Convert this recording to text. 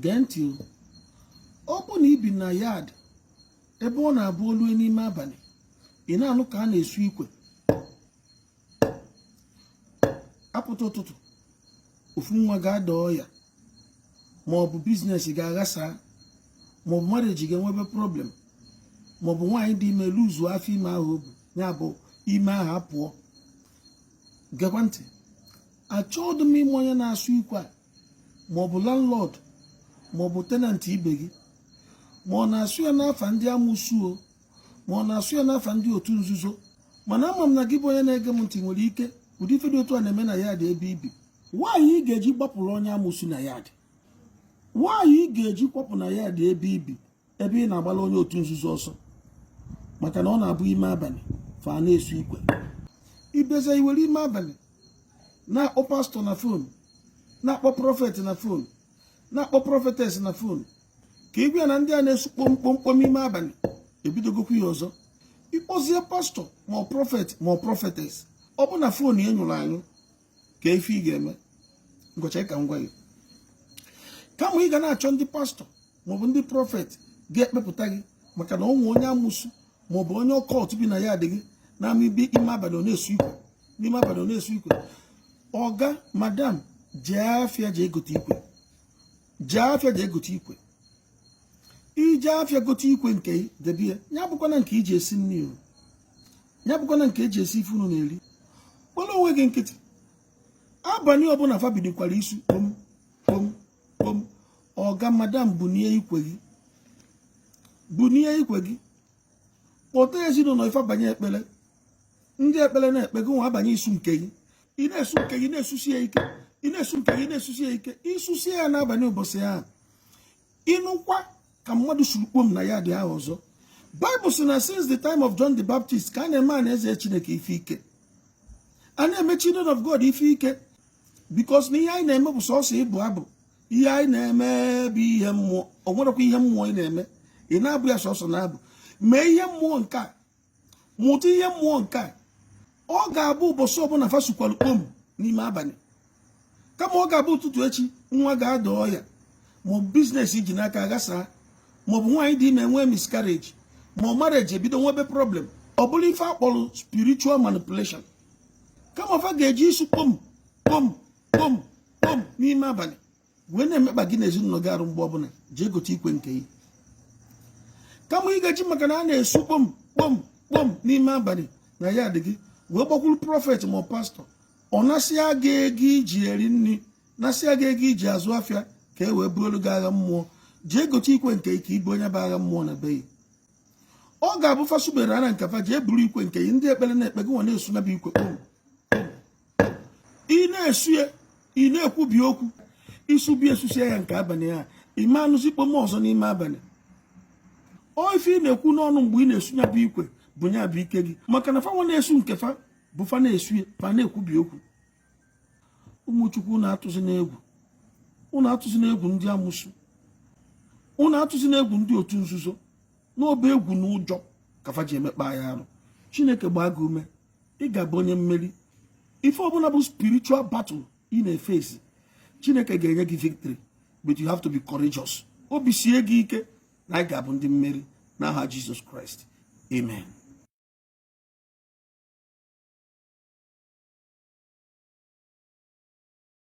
gee ntị o ọ bụ na i bi na yard ebe ọ na-abụ o lue n'ime abalị ị na-anụ ka a na-esu ikwe apụta ụtụtụ ofu nwa ga-ada ọya ma ọ bụ business ga-aghasa ma ọ bụ marriage ga-enwebe problem ma ọ bụ nwaanyị dị ime luzu afọ ime ahụ o bu ya bụ ime ahụ apụọ gekwa ntị achọghị m ịma onye na-asụ ikwe a ma ọ bụ landlord ma ọ bụ tenant ibe gị ma ọ na-asụ ya n'afa ndị amụsụ o ma ọ na-asụ ya n'afa ndị otu nzuzo mana ama m na gị bụ onye na-ege m ntị nwere ike ụdị ife dị otu a na-eme na yard ebe i bi why ị ga-eji gbapụrụ onye amụsụ na yard why ị ga-eji kwapụ na yard ebe i bi ebe ị na-agbala onye otu nzuzo ọsọ maka na ọ na-abụ ime abalị fa na-esu ikwe ibeza i were ime abalị na-akpọ pastor na phone na-akpọ prophet na phone na-akpọ prophetess na phone ka ị gwa ya na ndị a na-esu kpomkpomkpom ime abalị ebidogokwu ya ọzọ ị kpọzie pastor ma ọ prophet ma ọ prophetess ọ bụ na phone ya nyụrụ anyụ ka ife ị ga-eme ngọcha ka m gwa gị kama ị ga na-achọ ndị pastor maọbụ ndị prophet ga-ekpepụta gị maka na o nwe onye amụsụ maọbụ onye occult bi na yard gị na-ama ibe ime abalị ọ na-esu ikwe n'ime abalị ọ na-esu ikwe ọga madam jee afịa jee gote ikwe jee afịa jee gote ikwe i jee afịa gote ikwe nke debe ya ya bụkwana nke i ji esi nri o ya bụkwana nke e ji esi ife unu na-eri kpọrọ onwe gị nkịtị abalị ọbụla fa bidokwara isu kpom kpom ọga madam bunie ikwe gị bunie ikwe gị kpọta ezinụlọ gị fa abanye ekpere ndị ekpere na-ekpe gị nwa abanye isu nke gị ị na-esu nke gị na-esusi ya ike ị na-esu nke gị na-esusi ya ike i susie ya n'abalị ụbọchị ahụ ị nụkwa ka mmadụ suru kpom na yard ahụ ọzọ Bible sị na since the time of John the Baptist ka a na-eme anaeze Chineke ife ike a na-eme children of God ife ike because na ihe anyị na-eme bụ sọsọ ịbụ abụ ihe anyị na-eme bụ ihe mmụọ o nwerekwa ihe mmụọ ị na-eme ị na-abụ ya sọsọ n'abụ mee ihe mmụọ nke a mụta ihe mmụọ nke a ọ ga-abụ ụbọchị ọbụla fa sukwalụ kpom n'ime abalị kama ọ ga-abụ ụtụtụ echi nwa ga-ada ọya maọbụ business i ji n'aka aghasaa maọbụ nwaanyị dị ime nwee miscarriage ma ọ marriage ebido nwebe problem ọ bụrụ ife a kpọrọ spiritual manipulation kama fa ga-eji isu kpom kpom kpom kpom n'ime abalị wee na-emekpa gị na ezinụlọ gị arụ mgbe ọbụla jee gote ikwe nke gị kama ị ga-eji maka na a na-esu kpom kpom kpom n'ime abalị na yard gị wee gbakwuru prọfet ma pastọ ọ nasịa gị ego i ji eri nri nasịa gị ego i ji azụ afịa ka e wee buolu gị agha mmụọ jee gote ikwe nke ike ibu onye bụ agha mmụọ na be gị ọ ga-abụ fa subere ara nke fa jee buru ikwe nke gị ndị ekpere na-ekpe gị nwa na-esu nya bụ ikwe kpom ị na-esu ya ị na-ekwubi okwu i subie susịa ya nke abalị ya ị ma anụzi kpom ọzọ n'ime abalị ọ ife ị na-ekwu n'ọnụ mgbe ị na-esu ya bụ ikwe bụ ya bụ ike gị maka na fanwa na-esu nke fa bụ fa na-esu ya fa na-ekwubi okwu ụmụ Chukwu ụnụ atụzina egwu ụnụ atụzina egwu ndị amụsụ ụnụ atụzina egwu ndị otu nzuzo na ọ bụ egwu na ụjọ ka fa ji emekpa ya arụ chineke gbaa gị ume ị ga-abụ onye mmeri ife ọbụla bụ spiritual battle ị na-efesi chineke ga-enye gị victory but you have to be courageous obi sie gị ike na ị ga-abụ ndị mmeri n'aha Jizọs Kraịst amen